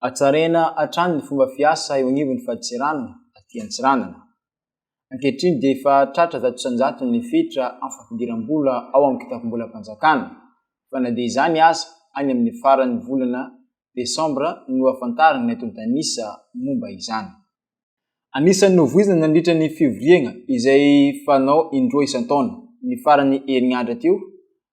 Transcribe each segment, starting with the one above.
Hatsaraina hatrany ny fomba fiasa eo anivon'ny fadintseranana aty Antsiranana. Ankehitriny dia efa tratra zato isan-jatony ny fetra amin'ny fampidiram-bola ao amin'ny kitapom-bolam-panjakana, fa na dia izany aza, any amin'ny faran'ny volana desambra no hahafantarana ny antontan'isa momba izany. Anisan'ny novoizina nandritra ny fivoriagna izay fanao indroa isan-taona, ny faran'ny herinandra teo,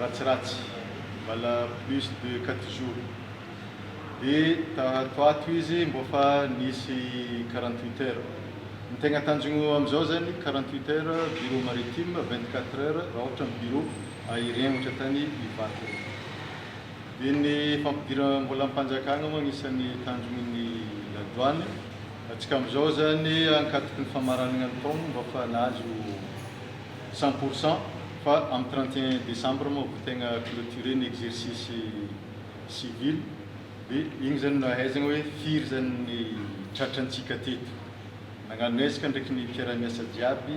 ratsiratsy mbala plus de quatre jours de tato ato izy mbô fa nisy quarante huit heures ny tegna tanjogno amizao zany quarante huit heures bureau maritime vingt quatre heures raha ohatra ny bureau aérien ohatra tany Ivato regny de ny fampidirambolampanjakana moa agnisany tanjogno ny la douane atsika amizao zany ankatoky ny famaragnana ny taogno mbô fa nahazo cent pour cent fa amin'ny trente et un décembre moa vao tegna clôturer ny exercice civil dia igny zany no ahaizagna hoe firy zany ny tratrantsika teto. Nagnano ezaka ndraiky ny mpiara-miasa jiaby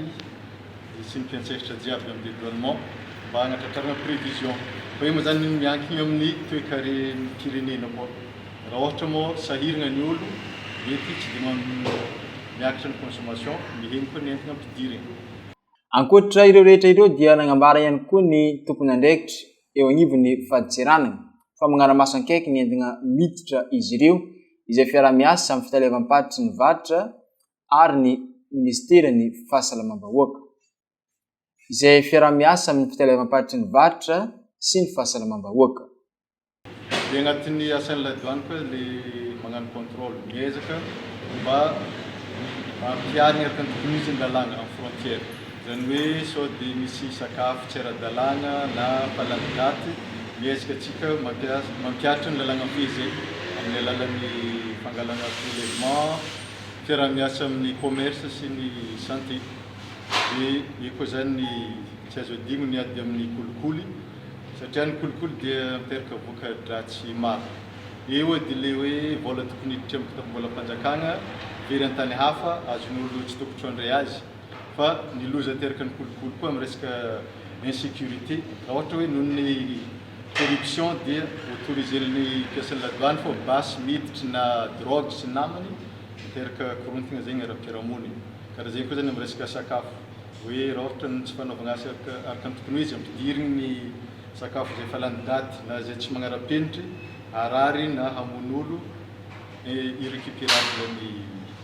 sy ny mpiantsehatra jiaby amin'ny dédouanement mba hagnatratrarana prévision fa io moa zany miankigna amin'ny toekaren'ny firenena koa. Raha ôhatra moa sahiragna ny ôlo mety tsy dia miakatra ny consommation, mihegny koa ny entagna ampidirigny. Ankoatra ireo rehetra ireo dia nagnambara ihany koa ny tompon'andraikitra eo agnivon'ny fadintseranana fa magnara-maso ankaiky ny entina miditra izy ireo izay fiaraha-miasa amin'ny fitaleavam-paritry ny varotra ary ny Ministeran'ny Fahasalamam-bahoaka izay fiaraha-miasa amin'ny fitaleavam-paritry ny varotra sy ny fahasalamam-bahoaka. Dia anatin'ny asan'ilay douane koa le magnano contrôle, miezaka mba hampiharigna araka ny tokony izy ny lalàgna amin'ny frontière. Zany hoe sao dia misy sakafo tsy ara-dalàgna na falan-daty, miezaka antsika mampiasa, mampiharitra ny lalàgna am pays eto amin'ny alalan'ny fangalana prélèvement, fiaraha-miasa amin'ny commerce sy ny santé. Dia eo koa zany ny tsy azo adino ny ady amin'ny kolikoly. Satria ny kolikoly dia miteraka voka-dratsy maro. Eo dia ilay hoe vola tokony hiditra amin'ny kitapom-bolam-panjakana very an-tany hafa, azon'olona tsy tokotro handray azy. Fa ny loza ateraka ny kolikoly koa amin'ny resaka insecurité, raha ohatra hoe noho ny corruption dia autoriser-ny mpiasan'ny la douane foa basy miditry na drogue sy ny namany, miteraka korontana zegny ara-piarahamonina. Karaha zegny koa zany amin'ny resaka sakafo. Hoe raoritra ny tsy fanaovana asa araka ny tokony ho izy, ampidiriny ny sakafo izay efa lany daty na izay tsy magnara-penitry, harary na hamono olo, et irrecuperable ny virus.